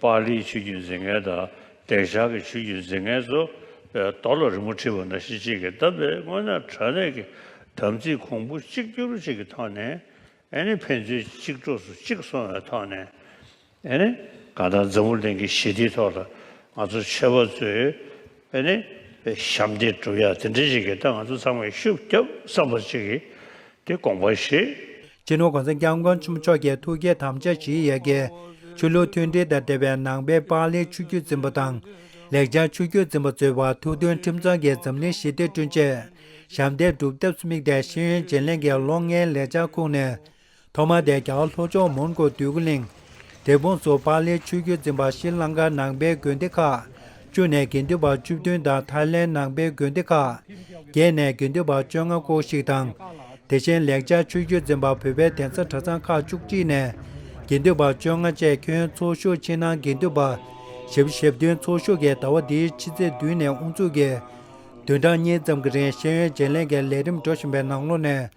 པཱ་ལིའི་ཆོས་བརྒྱུད་འཛིན་མཁན་དང་འདེགས་ཤར་གྱི་ཆོས་བརྒྱུད་འཛིན་མཁན་ཚོ་རྡོ་ལ་རི་མོ་བྲིས་པ་འདྲ་གཞི་གཅིག་གིས་བཏབ་པའི་དངོས་གནས་དྲྭ་གནས་ཀྱི་དམ་ཚིག་གོང་བུ་གཅིག་གྱུར་གཅིག་གི་ཐོག་ནས་ཨེ་ནི་ཕན་ཚུན་གཅིག་གྲོགས་སུ་གཅིག་སོང་བའི་ཐོག་ནས་ཨེ་ནི་གང་ལྟར་འཛམ་བུ་གླིང་གི་ཞི་བདེའི་ཐོག་ལ་ང་ཚོ་ཆོས་པ་ཚོས་བས་ནི། ཞབས་འདེགས་གྲུབ་ཡ་དེ་འདྲའི་ཞིག་གིས་ད་ང་ཚོ་ཚང་མས་ཤུགས་རྒྱབ་བསམ་པར་བྱེད་ཀྱི་དེ་དགོངས་པ་བཞེས། སྤྱི་ནོར་གོང་ས་སྐྱབས་མགོན་ཆེན་པོ་མཆོག་གིས་ཐུགས་བསྐྱེད་དམ་བཅའ་བཞིའི་ཡལ་གའི་ཆོས་ལུགས་མཐུན་སྒྲིལ་དང་འབྲེལ་བའི་ནང་པའི་པང་ལེའི་ཆུ་རྒྱུད་འཛིན་པ་དང། ལེགས་བྱང་ཆུ་རྒྱུད་འཛིན་པ་གཙོས་པ་ཐུགས་མཐུན་ཁྲིམས་གཙང་གི་འཛམ་གླིང་ཞི་བདེ་བསྐྲུན་ཆེད། ཞབས་འདེགས་སྒྲུབ་ཐབས་སུ་དམིགས་ཏེ་ཤེས་ཡོན་བརྗེ་ལེན་གྱི་ལོ་ལྔའི་ལེགས་བྱང་ཁུངས་ནས་ཐོག་མར་བདེ་འཇགས་ལྷོ་ཕྱོགས་མོན་གྷོ་སྟོད་གུ་ལིང། དེ་ཕུང་གཙོ་བྷག་ལའི་ཆུ་རྒྱུད་འཛིན་པ་ཤྲི་ལངྐ་ནང་པའི་དགོན་སྡེ་ཁག། བཅུ་ནས་དགེ་འདུན་པ་བཅུ་བདུན་དང་ཐའི་ལེན་ནང་པའི་དགོན་སྡེ་ཁག། བརྒྱད་ནས་དགེ་འདུན་པ་བཅོ་ལྔ་སྐོར་ཞིག་དང། དེ་བཞིན་ལེགས་སྦྱར་ཆུ་རྒྱུད་འཛིན་པ་བོད་པའི་གདན་ས་གྲྭ་ཚང་ཁག་བཅུ་གཅིག་ནས་དགེ་འདུན་པ་བཅོ་ལྔ་བཅས་ཁྱོན་ཚོགས་ཞུགས་ཕྱི་ནང་དགེ་འདུན་པ་བཞི་བཞི་བདུན་ཚོགས་ཞུགས་ཀྱིས་ཟླ་བ་འདིའི་ཕྱི་ཚེས་བདུན་ནས་དབུ་འཛུགས་ཀྱིས། བདུན་ཕྲག་གཉིས་ཙམ་གྱི་རིང་ཤེས་ཡོན་བརྗེ་ལེན་གྱི་ལས་རིམ་འགྲོ་བཞིན་པའི་ནང་ལོ་ནས།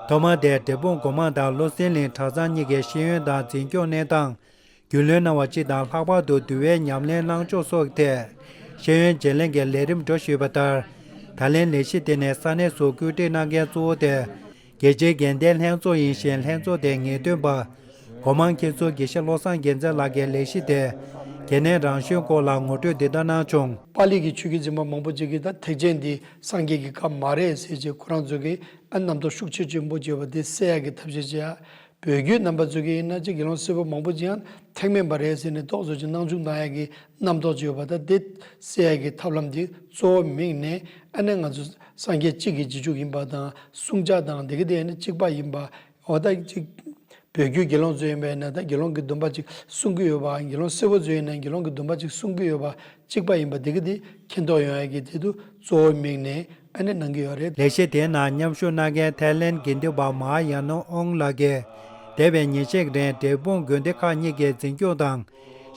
ཐོག་མར་དེར་དེ་དཔོན་སྒོ་མང་དང་བློ་སེང་གླིང་གྲགས་ཚང་གཉིས་ཀས་ཤེས་ཡོན་དང་འཛིན་སྐྱོང་གནས་སྟངས་རྒྱུས་ལོན་གནང་བ་གཅིག་དང་ལྷག་པར་དུ་འདུལ་བའི་ཉམས་ལེན་གནང་ཕྱོགས་སོགས་ཐད་ཤེས་ཡོན་བརྗེ་ལེན་གྱི་ལས་རིམ་འགྲོ་ཞུས་པ་ལྟར། ད་ལན་ལས་གཞི་དེ་ནི་ས་གནས་སུ་བཀོད་སྒྲིག་གནང་མཁན་གཙོ་བོ་དེ་རྒྱལ་སྤྱིའི་འགན་ལྡན་ལྷན་ཚོགས་ཡིན་ཞིང་ལྷན་ཚོགས་དེའི་ངེས་སྟོན་པ། སྒོ་མང་མཁན་ཟུར་དགེ་བཤེས་བློ་བཟང་རྒྱལ་མཚན་ལགས་ཀྱིས་ལས་གཞི་དེ་གལ་གནད་རང་བཞིན་སྐོར་ལ་ངོ་སྤྲོད་འདི་ལྟར་གནང་བྱུང། པཱ་ལི་གི་ཆོས་ཀྱི་འཛིན་པ་མང་པོ་ཅིག་གིས་ད་ཐེག་ཆེན་འདི་སངས་རྒྱས་ཀྱི་བཀའ་མ་རེད་ཟེར་ཅིག་ཁོ་རང་ཚོ་གིས་ཨ་རྣམ་རྟོག་ཤུགས་ཆེ་གཅུང་པོ་བརྗོད་པ་དེ་བསད་ཡག་གི་ཐབས་ཤེས་བྱེད་ཡག་བོད་རྒྱུད་རྣམ་པ་རྩོད་མཁན་ཡིན་ན་ཅི་དགེ་སློང་སེར་པོ་མང་པོ་ཅིའང་ཐེག་དམན་པ་རེད་ཟེར་ནས་རྟོག་བཟོ་ཅིག་གནང་བཅུག་གནང་ཡག་གི་རྣམ་རྟོག་བརྗོད་པ་དང་དེ་བསད་ཡག་གི་ཐབས་ལམ་དེ་གཙོ་བོ་མིང་ནས་ཨ་ནི་ང་ཚོ་སངས་རྒྱས་གཅིག་གི་རྗེས་འཇུག་ཡིན་པ་དང་བསྲུང་བྱ་དང་སྡེ་དགེ་དེ་ཡང་ནི་གཅིག་པ་ཡིན་པ་འོ་ད་ཅིག། བོད་རྒྱུད་དགེ་སློང་གཙོས་ཡིན་པས་ན་ད་དགེ་སློང་གི་སྡུམ་པ་ཅིག་གསུང་གི་ཡོད་པའང་དགེ་སློང་སེར་བོ་གཙོས་ཡིན་ན་དགེ་སློང་གི་སྡུམ་པ་ཅིག་གསུང་གི་ཡོད་པ་གཅིག་པ་ཡིན་པ་འདི་གི་འདི་མཁྱེན་རྟོགས་ཡོང་ཡ་གི་འདི་དུ་གཙོ་བོ་དམིགས་ནས་ཨ་ནེ་གནང་གི་ཡོད་རེད། ལེགས་བཤད་དེའི་ནང་མཉམ་ཞུགས་གནང་མཁན་ཐའི་ལེན་དགེ་འདུན་པ་མཱ་ཡཱ་ནོ་ཨོང་ལགས། འདས་པའི་ཉིན་ཤས་རིང་འབྲས་སྤུངས་དགོན་སྡེ་ཁག་གཉིས་ཀའི་འཛིན་སྐྱོང་དང་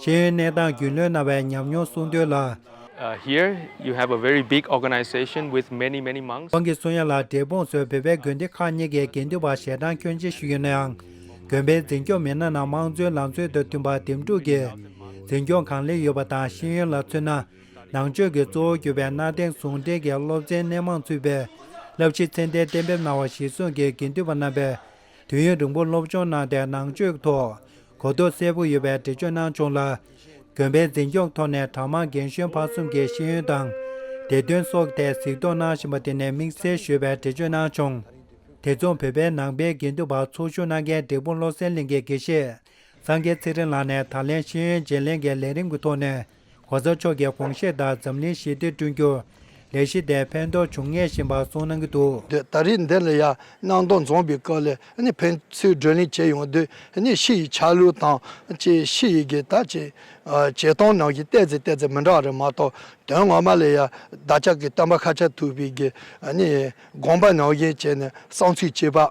ཤེས་ཡོན་གནས་སྟངས་རྒྱུས་ལོན་གནང་བའི་ཉམས་མྱོང་གསུང་འདོན་ལ། Here you have a very big organization with many many monks. ཁོང་གིས་གསུང་ཡ་ལ་འབྲས་སྤུངས་སུ་བོད་པའི་དགོན་སྡེ་ཁག་གཉིས་ཀྱི་དགེ་འདུན་པ་ཞལ་གྲངས་ཁྱོན་ཆེ་ཞིག་ཡོད་ནའང། དགོན་པའི་འཛིན་སྐྱོང་མི་སྣ་རྣམས་དམངས་གཙོའི་ལམ་སྲོལ་དང་མཐུན་པ་འདེམས་སྒྲུག་གིས་འཛིན་སྐྱོང་གང་ལེགས་ཡོད་པ་དང་ཤེས་ཡོན་ལ་མཚོན་ན། ནང་ཆོས་ཀྱི་གཙོ་བོར་གྱུར་པའི་གནའ་དེང་ཟུང་འབྲེལ་གྱི་སློབ་ཚན་སྣེ་མང་ཚུད་པའི་བསླབ་གཞི་ཚད་ལྡན་གཏན་འབེབས་གནང་བ་གཞིར་བཟུང་གིས་དགེ་འདུན་པ་རྣམ་པས་དུས་ཡུན་རིང་པོར་སློབ་སྦྱོང་གནང་སྟེ་ནང་ཆོས་ཀྱི་ཐོག་གོ་རྟོགས་གསལ་པོ་ཡོད་པའི་འགྲེལ་བརྗོད་གནང་བྱུང་ལ། དགོན་པའི་འཛིན་སྐྱོང་ཐོག་ནས་གྲྭ་མང་རྒན་གཞོན་ཕ་གསུམ་གྱི་ཤེས་ཡོན་དང། བདེ་དོན་སོགས་ཀྱི་ཐད་གཟིགས་རྟོག་གནང་བཞིན་པ་དེ་ནས་དམིགས་བསལ་ཞུས་པའི་འགྲེལ་བརྗོད་གནང་བྱུང། དེ་མཚུངས་བོད་པའི་ནང་པའི་དགེ་འདུན་པ་ཚོགས་ཞུགས་གནང་མཁན་འབྲས་སྤུངས་བློ་གསལ་གླིང་གི་དགེ་བཤེས་སངས་རྒྱས་ཚེ་རིང་ལགས་ནས་ད་ལན་ཤེས་ཡོན་བརྗེ་ལེན་གྱི་ལས་རིམ་གྱི་ཐོག་ནས་གོ་ས་མཆོག་གིས་དགོངས་བཞེས་ལྟར་འཛམ་གླིང་ཞི་བདེ་བསྐྲུན་རྒྱུར་ལས་གཞི་དེས་ཕན་ཐོགས་འབྱུང་ངེས་ཞེས་པར་གསུངས་གནང་གི་འདུག། ད་རེས་འདི་ལ་ཡང་སྣང་སྟོང་རྫོངས་པའི་སྐབས་ལས་ཕན་ཚུན་བགྲོ་གླེང་བྱེད་ཡོང་དུས་ཕྱི་ཡི་ཆ་ལུགས་དང་བཅས་ཕྱི་ཡི་གི་དག་ཅིག་བྱེད་སྟངས་ནང་གི་བལྟས་ཚེ་བལྟས་ཚེ་མི་འདྲ་རེ་མ་གཏོགས་དོན་ངོ་མ་ལ་ཡང་བདག་ཅག་གི་སྟོན་པ་ཁ་ཆགས་ཐུབ་པའི་གི་དགོངས་པ་ནང་བཞིན་བྱས་ནས་གསང་ཚུལ་གཅེས་པ།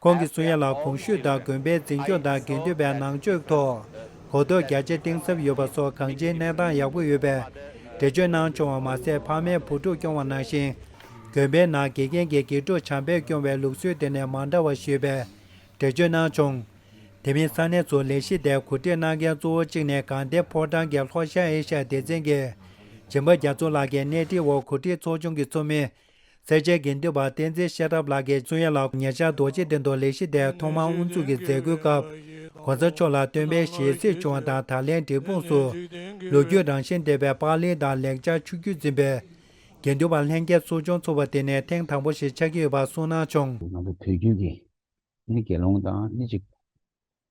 ཁོང་གིས་སུ་ཡན་ལག་གོང་ཞུས་དང་དགོན་པའི་འཛིན་སྐྱོང་དང་དགེ་འདུན་པའི་ནང་ཆོས་ཐོག་གོ་རྟོགས་རྒྱ་ཆེ་གཏིང་ཟབ་ཡོད་པ་སོགས་གང་ཅིའི་གནས་སྟངས་ཡག་པོ་ཡོད་པས་འགྲེལ་བརྗོད་གནང་བྱུང་བ་མ་ཟད་ཕ་མའི་བུ་ཕྲུག་སྐྱོང་བ་ནང་བཞིན་དགོན་པའི་ནང་དགེ་རྒན་གྱིས་དགེ་ཕྲུག་བྱམས་པས་སྐྱོང་བའི་ལུགས་སྲོལ་དེ་ནས་མ་འདྲ་བ་ཞིག་ཡོད་པའི་འགྲེལ་བརྗོད་གནང་བྱུང། དེ་མིན་ས་གནས་སུ་ལས་གཞི་དེར་གོ་སྒྲིག་གནང་མཁན་གཙོ་བོ་གཅིག་ནས་གངས་ཏེ་ཕོ་བྲང་གི་ལྷོ་ཤར་ཨེ་ཤ་ཡ་སྡེ་ཚན་གྱི་སྦྱིན་པ་རྒྱ་མཚོ་ལགས་ཀྱིས་སྣེ་ཁྲིད་འོག་གོ་སྒྲིག་ཚོགས་ཆུང་གི་ཚོགས་མི་རྩེ་དཔྱད་དགེ་འདུན་པ་བསྟན་འཛིན་ཤེས་རབ་ལགས་ཀྱིས་གཙུག་ཡན་ལག་ཉེ་ཆར་རྡོ་རྗེ་གདན་དུ་ལས་གཞི་དེ་ཐོག་མར་དབུ་འཛུགས་ཀྱི་མཛད་སྒོའི་སྐབས། གོང་ས་མཆོག་ལ་སྟོན་པའི་ཞལ་གཟིགས་བྱུང་བ་དང་ད་ལན་འབྲས་སྤུངས་སུ། ལོ་རྒྱུས་རང་བཞིན་ལྡན་པའི་པགས་ལེན་དང་ལེགས་སྦྱར་ཆུ་རྒྱུས་འཛིན་པའི། དགེ་འདུན་པ་ལྷན་རྒྱས་ཚོགས་ཆུང་ཚུགས་པ་དེ་ནི་ཐེངས་དང་པོ་ཞིག་ཆགས་ཀྱི་ཡོད་པ་གསུངས་གནང་བྱུང། ང་ཚོ་བོད་བརྒྱུད་ཀྱི་ནི་དགེ་སློང་དང་སྣེ་གཅིག་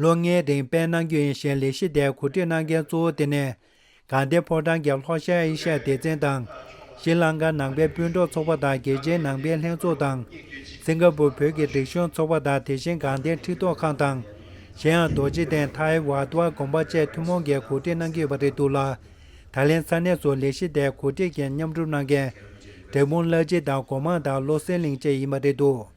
ལོ་ལྔའི་སྟེང་དཔལ་ནང་རྒྱུན་ཨེ་ཤའི་ལས་གཞི་དེ་གོ་སྒྲིག་གནང་མཁན་གཙོ་བོ་དེ་ནི། གངས་ཏི་ཕོ་བྲང་གི་ལྷོ་ཤར་ཨེ་ཤ་ཡའི་སྡེ་ཚན་དང། ཤྲི་ལངྐ་ནང་པའི་སྤུན་གྲོགས་ཚོགས་པ་དང་རྒྱལ་སྤྱིའི་ནང་པའི་ལྷན་ཚོགས་དང། སིང་ག་པུར་བོད་ཀྱི་སྒྲིག་གཞུང་ཚོགས་པ་དང་དེ་བཞིན་གངས་ཏི་ཁྲི་ཐོག་ཁང་དང། གཞན་ཡང་རྡོ་རྗེ་གདན Thai Wat དབར་དགོངས་པ་བཅས་ཐུན་མོང་གིས་གོ་སྒྲིག་གནང་གི་ཡོད་པ་རེད་འདུག་ལ། ད་ལན་ས་གནས་སུ་ལས་གཞི་དེ་གོ་སྒྲིག་གིས་མཉམ་སྒྲུབ་གནང་མཁན། འབྲས་སྤུངས་བླ་སྤྱི་དང་སྒོ་མང་དང་བློ་གསལ་གླིང་བཅས་ཡིན་པ་རེད་འདུག།